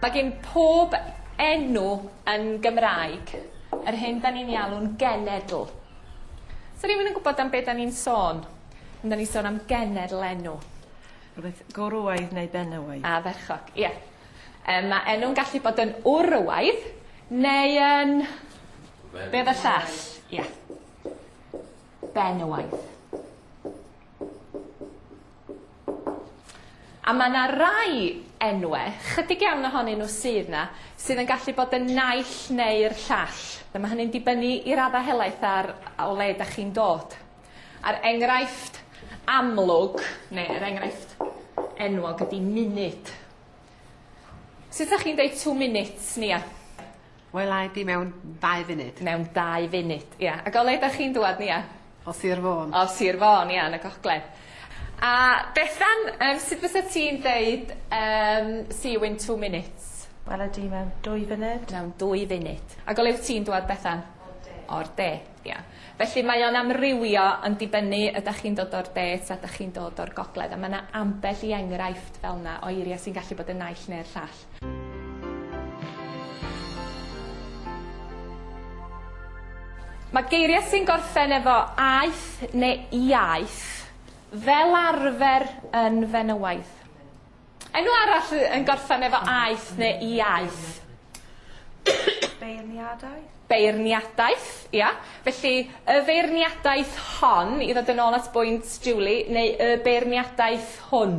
Mae gen pob enw yn Gymraeg yr hyn da ni'n ei alw'n genedl. Sa rhywun yn gwybod am be da ni'n sôn pan da ni'n sôn am genedl enw? Rhywbeth gwrywaidd neu benywaidd. A ferchog, ie. Yym ma' enw'n gallu bod yn wrywaidd neu yn... Be oedd y llall? Ie. ben y waith. A mae yna rai enwau, chydig iawn ohonyn nhw sydd yna, sydd yn gallu bod yn naill neu'r llall. Mae hynny'n dibynnu i raddau helaeth ar o le da chi'n dod. A'r enghraifft amlwg, neu yr enghraifft enwog ydy munud. Sut ydych chi'n dweud two minutes, Nia? Wela i di mewn dau funud. Mewn dau funud, ia. Ac o le 'dach chi'n dŵad Nia? O Sir Fôn. O Sir Fôn, ia, yn y gogledd. A Bethan, yym sut fysa ti'n deud yym see you in two minutes? Wela di mewn dwy funud. Mewn dwy funud. Ac o le wt ti'n dŵad Bethan? O'r de. O'r de, ia. Felly mae o'n amrywio yn dibynnu ydach chi'n dod o'r de ta 'dach chi'n dod o'r gogledd a ma' 'na ambell i enghraifft fel 'na o eiria' sy'n gallu bod yn naill ne'r llall. Cymreictod. Mae geiriau sy'n gorffen efo aeth neu iaeth fel arfer yn fenywaidd. Enw arall yn gorffen efo aeth neu iaeth. Beirniadaeth? Beirniadaeth, ia. Felly, y feirniadaeth hon, i ddod yn ôl at bwynt Julie, neu y beirniadaeth hwn.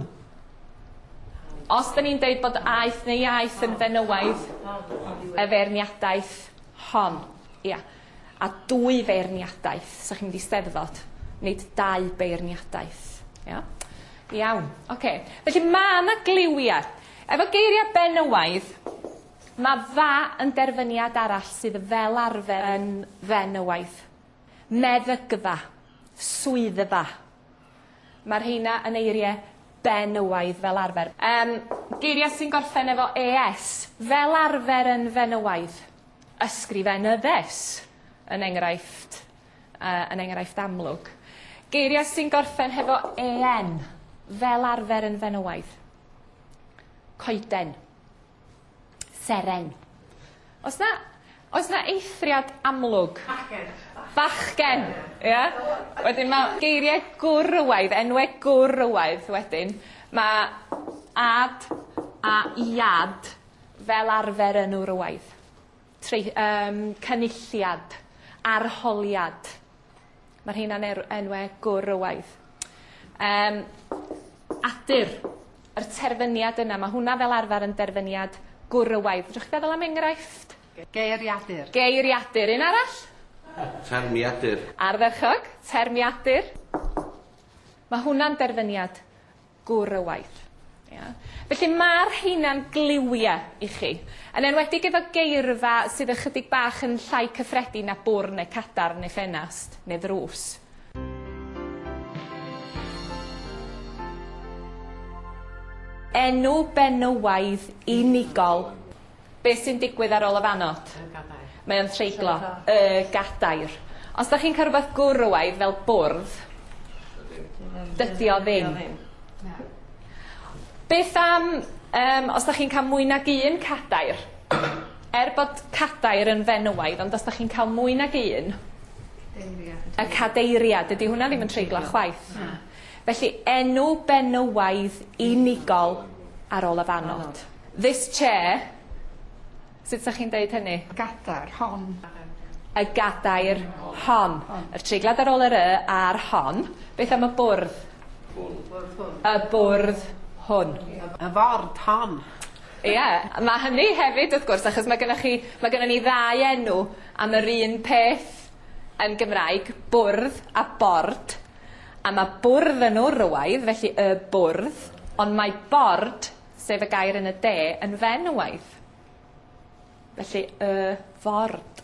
Os da ni'n deud bod aeth neu iaeth yn fenywaidd, y feirniadaeth hon, ia, a dwy feirniadaeth, so chi'n mynd i steddfod, nid dau beirniadaeth. Ia? Iawn, oce. Okay. Felly mae yna gliwiau. Efo geiriau benywaidd, mae fa yn derfyniad arall sydd fel arfer yn fenywaidd. Meddygfa, swyddfa, Mae rheina yn eiriau benywaidd fel arfer. Yym, geiriau sy'n gorffen efo ES, fel arfer yn fenywaidd. Ysgrifenyddes, yn enghraifft, uh, yn enghraifft amlwg. Geiriau sy'n gorffen hefo EN, fel arfer yn fenywaidd. Coeden. Seren. Oes 'na oes 'na eithriad amlwg? Bachgen. Bachgen! Ia? Wedyn ma' geirie gwrywaidd enwe gwrywaidd wedyn ma' ad a iad fel arfer yn wrywaidd. Trei, yym, cynulliad, arholiad. Mae'r rheina'n er, enwau gwrywaidd. Um, adur, yr terfyniad yna, mae hwnna fel arfer yn derfyniad gwrywaidd. Fedrwch chi feddwl am enghraifft? Geiriadur. Geiriadur. Un arall? Termiadur. Ardderchog. Termiadur. Mae hwnna'n derfyniad gŵr y waith. Ia? Felly mae'r rheina'n gliwiau i chi, yn enwedig efo geirfa sydd ychydig bach yn llai cyffredin na bwrn neu cadarn neu ffenast neu ddrws. Enw benywaidd unigol. Be' sy'n digwydd ar ôl y fannod? Y gadair. Mae o'n treiglo. Treiglo. Y gadair. Os 'dach chi'n ca'l rwbeth gwrywaidd fel bwrdd... Dydi. ...dydi o ddim. Dydi o ddim. Na. Beth am yym os 'dach chi'n ca'l mwy nag un cadair? Er bod cadair yn fenywaidd ond os 'dach chi'n ca'l mwy nag un... Deiriad. ...y cadeiriad dydi hwnna ddim yn treiglo chwaith. Na. Felly enw benywaidd unigol ar ôl y fannod. This chair. Sut 'sa chi'n deud hynny? Y gadair hon. Y gadair hon. Yr treiglad ar ôl yr y a'r hon. Beth am y bwrdd? Y bwrdd hwn. Y ford hon. Ie, mae hynny hefyd wrth gwrs achos mae gennych chi... mae gennym ni ddau enw am yr un peth yn Gymraeg, bwrdd a bord, a mae bwrdd yn wrywaidd, felly y bwrdd, ond mae bord sef y gair yn y de yn fen y waith. Felly y ford.